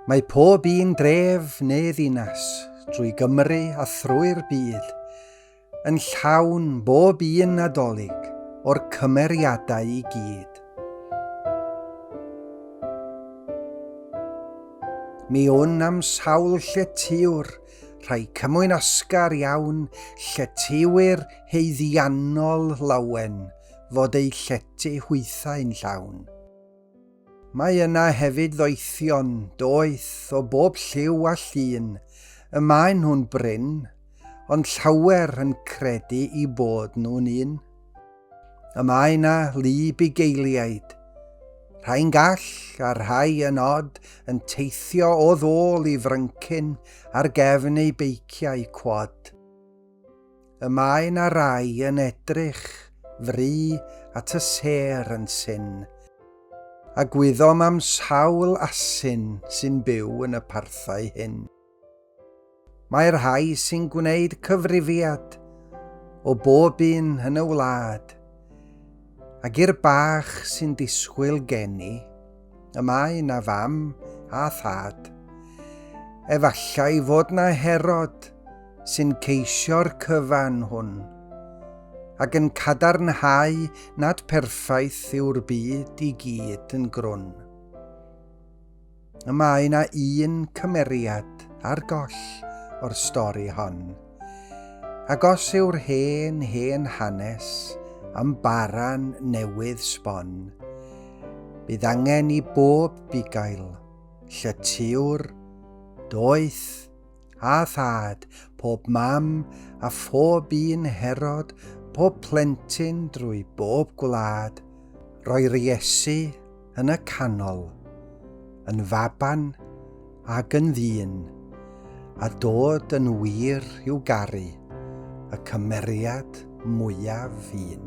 Mae pob un dref neu ddinas drwy Gymru a thrwy'r byd yn llawn bob un Nadolig o'r cymeriadau i gyd. Mi wn am sawl lle tiwr, rhai cymwyn asgar iawn, lle tiwyr heiddiannol lawen, fod eu llety hwythau'n llawn. Mae yna hefyd ddoethion, doeth, o bob lliw a llun, y maen nhw'n brin, ond llawer yn credu i bod nhw'n un. Y mae yna lu bugeiliaid, rhai'n gall a rhai yn od yn teithio o ddôl i fryncyn ar gefn eu beiciau cwad. Y mae na rai yn edrych fry at y sêr yn syn, a gwyddom am sawl asyn sy'n byw yn y parthau hyn. Mae rhai sy'n gwneud cyfrifiad o bob un yn y wlad, Ac i'r bach sy'n disgwyl geni, y mae na fam a thad. Efallai fod na Herod sy'n ceisio'r cyfan hwn, ac yn cadarnhau nad perffaith yw'r byd i gyd yn grwn. Y mae yna un cymeriad ar goll o'r stori hon. Ac os yw'r hen, hen hanes am baran newydd sbon, bydd angen i bob bugail, llytiwr, doeth a thad, pob mam a phob un Herod, pob plentyn drwy bob gwlad, roi'r Iesu yn y canol, yn faban ag yn ddyn, a dod yn wir i'w garu, y cymeriad mwyaf un.